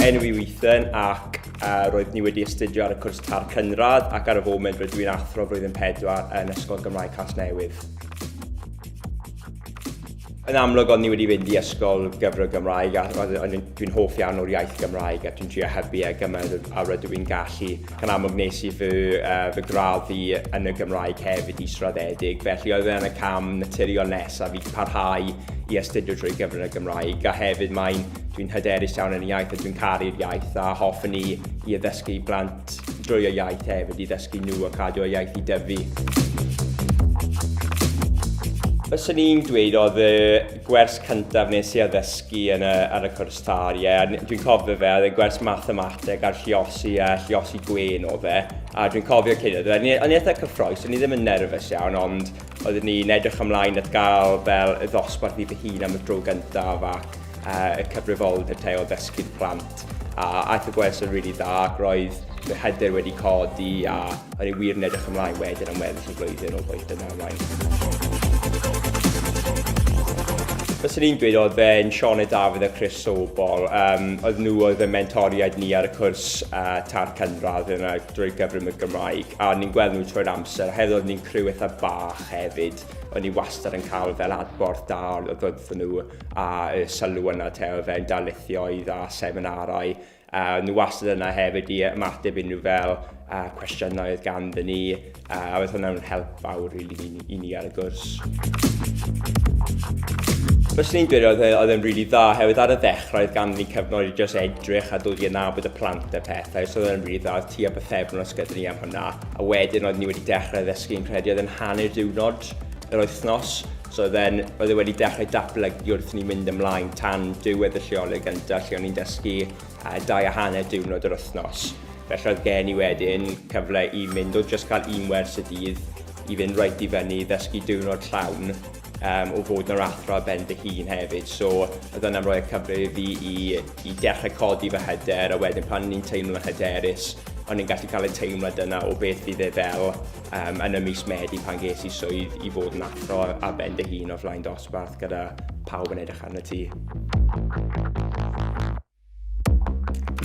enw i weithio ac uh, roedd ni wedi astudio ar y cwrs tar cynradd ac ar y foment rydw i'n athro flwyddyn 4 yn Ysgol Gymraeg Casnewydd. Yn amlwg o'n ni wedi fynd i ysgol gyfrwng Gymraeg a dwi'n hoff iawn o'r iaith Gymraeg a dwi'n trio hybu e gymaint a rydw i'n gallu. Yn amlwg nes i fy yy fy gradd fi yn y Gymraeg hefyd israddedig, felly oedd e'n y cam naturiol nesaf i parhau i astudio drwy gyfrwng y Gymraeg, a hefyd mae'n... dwi'n hyderus iawn yn y iaith a dwi'n caru'r iaith a hoffwn i i addysgu i blant drwy y iaith hefyd, i ddysgu nhw a cadw y iaith i dyfu. Fyswn i'n dweud oedd y gwers cyntaf nes i addysgu yn y, ar y cwrs Car, ie. Yeah. Dwi'n cofio fe, oedd e'n gwers mathemateg a'r lliosi a lliosi gwen o fe. A dwi'n cofio cyn oedd e, o'n i'n eitha cyffroes, o'n i ddim yn nerfus iawn, ond oeddwn ni'n edrych ymlaen at gael fel y ddosbarth i fy hun am y dro gyntaf ac uh, y cyfrifoldeb te o ddysgu'r plant. A aeth y gwers yn rili really dda ac roedd fy hyder wedi codi a O'n i wir yn edrych ymlaen wedyn am weddill y flwyddyn o boeth yna ymlaen. Fyswn i'n dweud oedd fe'n Sioned Dafydd a Chris Sobol. Um, oedd nhw oedd y mentoriaid ni ar y cwrs uh, tar cynradd yna drwy gyfrwng y Gymraeg. A ni'n gweld nhw trwy'r amser. Hefyd oedd ni'n criw eitha bach hefyd. O'n i wastad yn cael fel adborth da oedd ddod nhw a y sylw yna te oedd fe'n darlithioedd a seminarau A o'n nhw wastad yna hefyd i ymateb unrhyw fel a cwestiynau oedd ganddyn ni, a oedd hwnna'n help fawr rili really, i, ni, i ni ar y gwrs. Fes ni'n dweud oedd, e, oedd e'n rili really dda, hefyd ar y ddechrau oedd ganddyn ni cyfnod i just edrych a dod i anabod y plant a pethau, so oedd e'n rili really dda, oedd ti a bythefn os gyda ni am hwnna, a wedyn oedd ni wedi dechrau ddysgu'n credu oedd yn hanner diwrnod yr wythnos, So oedd e'n, oedd e wedi dechrau datblygu wrth ni mynd ymlaen tan diwedd y lleoleg gyntaf lle o'n i'n dysgu uh, dau a hanner diwrnod yr wythnos. Felly oedd gen i wedyn cyfle i mynd o just cael un wers y dydd i fynd reit i fyny i ddysgu diwrnod llawn um, o fod yn athro a ben dy hun hefyd. So oedd yna'n rhoi'r cyfle i fi i, i dechrau codi fy hyder a wedyn pan o'n i'n teimlo'n hyderus o'n i'n gallu cael y teimlad yna o beth fydd e fel um, yn y mis Medi pan ges i swydd i fod yn athro a ben dy hun o flaen dosbarth gyda pawb yn edrych arno ti.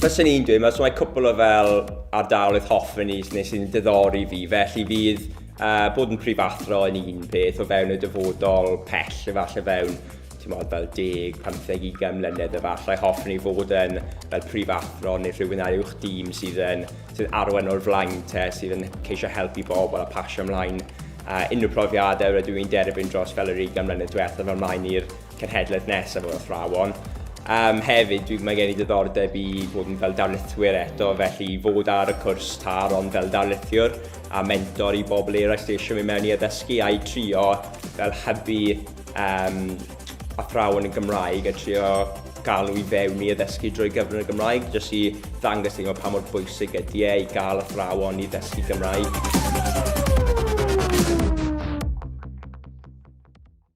Fyswn i'n dweud, mae cwpl o fel ardaloedd hoffen i nes i'n diddori fi, felly fydd uh, bod yn prif athro yn un peth o fewn y dyfodol pell efallai fewn ti'n modd fel 10, 15, 20 mlynedd efallai hoffwn i fod yn fel prif athro neu rhywun ar uwch dîm sydd yn sydd arwain o'r flaen te, sydd yn ceisio helpu bobl a pasio ymlaen a unrhyw profiadau rydw i'n derbyn dros fel yr 20 mlynedd diwethaf fel maen i'r cenhedlaeth nesaf o'r athrawon. Um, hefyd, dwi, mae gen i diddordeb i fod yn fel darlithwyr eto, felly i fod ar y cwrs tar ond fel darlithiwr a mentor i bobl eraill sydd eisiau mynd mewn i addysgu a'i trio fel hybu um, athrawon yn Gymraeg a trio galw i fewn i addysgu drwy gyfrwng y Gymraeg, jyst i ddangos i nhw pa mor bwysig ydy e i gael athrawon i ddysgu Gymraeg.